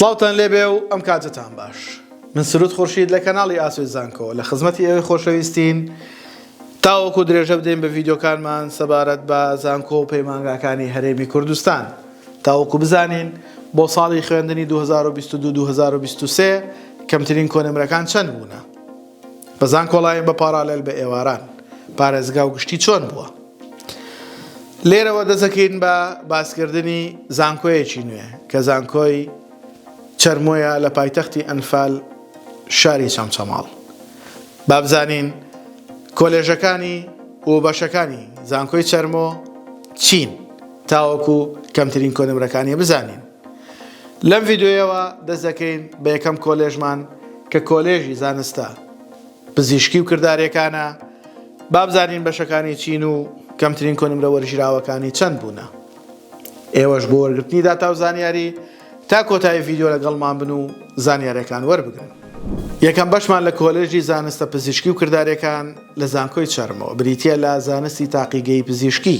سڵاوتان لێبێ و ئەم کاتەتان باش. من سرود خورشید لە کەناڵی ئاسۆی زانکۆ لە خزمەتی ئێوەی خۆشەویستین تاوەکو درێژە بدەین بە ڤیدیۆکانمان سەبارەت بە زانکۆ و پەیمانگاکانی هەرێمی کوردستان تاوەکو بزانین بۆ ساڵی خوێندنی 2022 2023 کەمترین کۆنمرەکان چەند بوونە. بە زانکۆڵاین بە پاڕالێل بە ئێواران پارێزگا و گشتی چۆن بووە؟ لێرەوە دەسەکەین بە باسکردنی زانکۆیەکی نوێ کە زانکۆی چەرمۆیە لە پایتەختی ئەنفال شاری چەمچەماڵ بابزانین کۆلێژەکانی و بەشەکانی زانکۆی چەرمۆ چین تاوەکو کەمترین کۆنمرەکانی بزانین لەم ڤیدیۆیەوە دەست دەکەین بە یەکەم کۆلێژمان کە کۆلێژی زانستە پزیشکی و کردارەکانە بابزانین بەشەکانی چین و کەمترین کۆنمرە وەرژراوەکانی چەند بوونە ئێوەش بۆ وەرگرتنی داتا و زانیاری تا کۆتایی ڤیددیو لەگەڵمان بن و زانیارەکان وەربگرن یەکەم بەشمان لە کۆلێژی زانستە پزیشکی و کردارەکان لە زانکۆی چەرمەوە بریتە لە زانستی تاقیگەی پزیشکی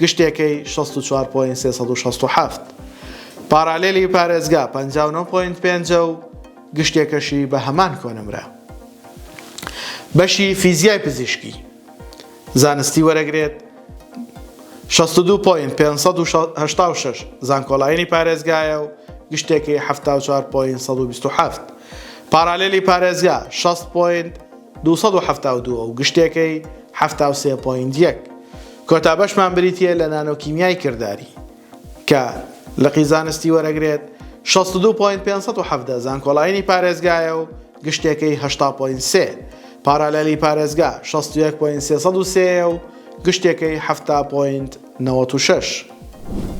گشتێکەی شەست و چوار پۆینت سێ سەد و شەست و حەفت، پاڕالێلی پارێزگا پەنجا و نۆ پۆینت پێنج ە و گشتێکەشی بە هەمان کۆنمرە بەشی فیزیای پزیشکی زانستی وەرەگرێت شەست و دوو پۆینت پێنج سەد و هەشتا و شەش زانکۆلاینی پارێزگایە و گشتێکی حەفتا و چوار پۆینت سەد و بیست و حەفت، پاڕالێلی پارێزگا شەست پۆینت دوو سەد و حەفتا و دوو و گشتێکەی حەفتا و سێ پۆینت یەک. کۆتا بەشمان بریتییە لە نانۆکیمیای کرداری کە لقی زانستی وەرەگرێت شەست و دوو پۆینت پێنج سەد و حەڤدە زانکۆڵاینی پارێزگایە و گشتێکەی هەشتا پۆینت سێ. پارالێلی پارێزگا شەست و یەک پۆینت سێ سەد و سێ یە و گشتێکەی حەفتا پۆینت نەوەد و شەش.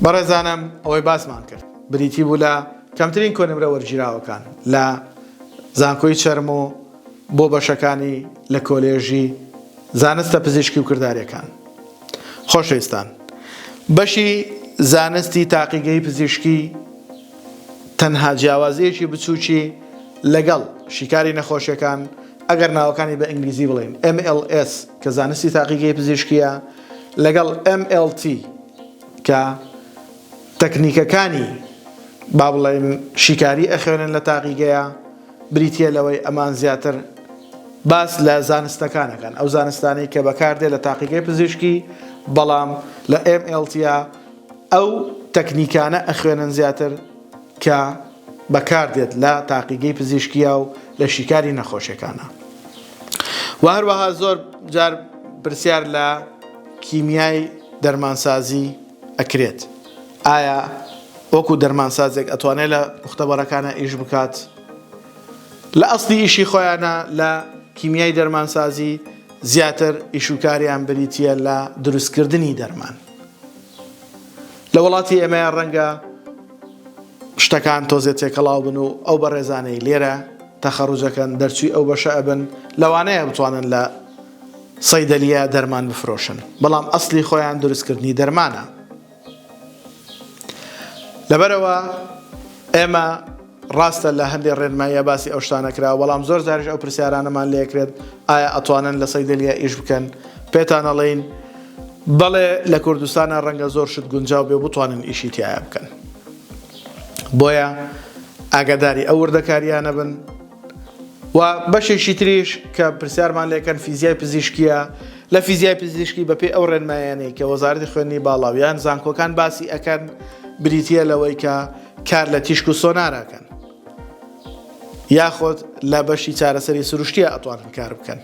بەڕێزانم ئەوەی باسمان کرد بریتی بوو لە کەمترین کۆنمرە وەرگیراوەکان لە زانکۆی چەرموو بۆ بەشەکانی لە کۆلێژی زانستە پزیشکی و کرداریەکان خۆشەویستان بەشی زانستی تاقیگەی پزیشکی تەنها جیاوازیەکی بچووکی لەگەڵ شیکاری نەخۆشیەکان ئەگەر ناوەکانی بە ئینگلیزی بڵێن MLS کە زانستی تاقیگەی پزیشکیە لەگەڵ MLT کە تەکنیکەکانی با بڵێن شیکاری ئەخوێنن لە تاقیگەیە بریتییە لەوەی ئەمان زیاتر باس لە زانستەکان ئەکەن، ئەو زانستانەی کە بەکاردێت لە تاقیگەی پزیشکی، بەڵام لە MLTA ئەو تەکنیکانە ئەخوێنن زیاتر کە بەکاردێت لە تاقیگەی پزیشکییا و لە شیکاری نەخۆشیەکانە. وە هەروەها زۆر جار پرسیار لە کیمیای دەرمانسازی ئەکرێت. ئایا وەکو دەرمانسازێک ئەتوانێت لە مختەبەرەکانا ئیش بکات؟ لە ئەسلی ئیشی خۆیانا لە کیمیای دەرمانسازی زیاتر ئیش و کاریان بریتییە لە دروستکردنی دەرمان. لە وڵاتی ئێمەیە ڕەنگە شتەکان تۆزێ تێکەڵاو بن و ئەو بەڕێزانەی لێرە تەخەڕوجەکەن دەرچووی ئەو بەشە ئەبن لەوانەیە بتوانن لە صیدلیە دەرمان بفرۆشن بەڵام ئەسڵی خۆیان دروست کردنی دەرمانە لەبەرەوە ئێمە ڕاستە لە هەندێک ڕێنماییە باسی ئەو شتانە کرا بەڵام زۆر زارش ئەو پرسیارانەمان لەکرێت ئایا ئەتوانن لە صیدلیە ئیش بکەن پێتانەڵین بەڵێ لە کوردستانە ڕەنگە زۆر شت گونجاو بێ بتوانن ئیشی تایە بکەن بۆیە ئاگاداری ئەو وردەکاریانە بن وە بەشێکی تریش کە پرسیارمان لێکەن فیزیای پزیشکیە لە فیزیای پزیشکی بەپێی ئەو ڕێنمایانەی کە وەزارەتی خوێندنی باڵا و یان زانکۆکان باسی ئەکەن بریتە لەوەی کە کار لە تیشک و سۆناراکەن یاخۆت لە بەشی چارەسەری سروشتیە ئەتوانن کار بکەن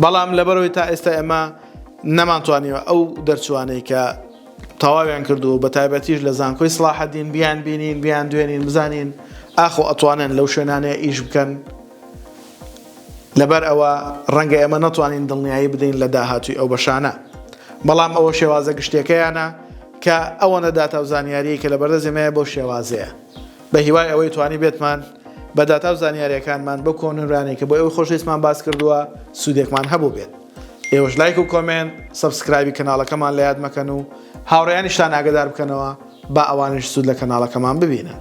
بەڵام لەبەرەوەی تا ئێستا ئێمە نەمانتوانیوە ئەو دەرچوانەی کە تەواویان کردووە بە تایبەتیش لە زانکۆی سڵاحەدین بیان بینین بیان دوێنین بزانین ئاخۆ ئەتوانن لەو شوێنانەیە ئیش بکەن لەبەر ئەوە ڕەنگە ئێمە نەتوانین دڵنیایی بدەین لە داهاتووی ئەو بەشانە بەڵام ئەوە شێوازە گشتەکەیانە کە ئەوە نەداتا و زانیاری کە لە بەردە زمەیە بۆ شێوازەیە بە هیوای ئەوەی توانی بێتمان بە داتا و زانیارەکانمان بۆ کۆنرانێکە بۆ ئەوەی خۆشەویستمان باس کردووە سوودێکمان هەبوو بێت ئێوەش لایک و کۆمێنت سەبسکرایبی کەناڵەکەمان لە یاد مەکەن و هاوڕێیانیشتان ئاگەدار بکەنەوە با ئەوانیش سوود لە کەناڵەکەمان ببینن.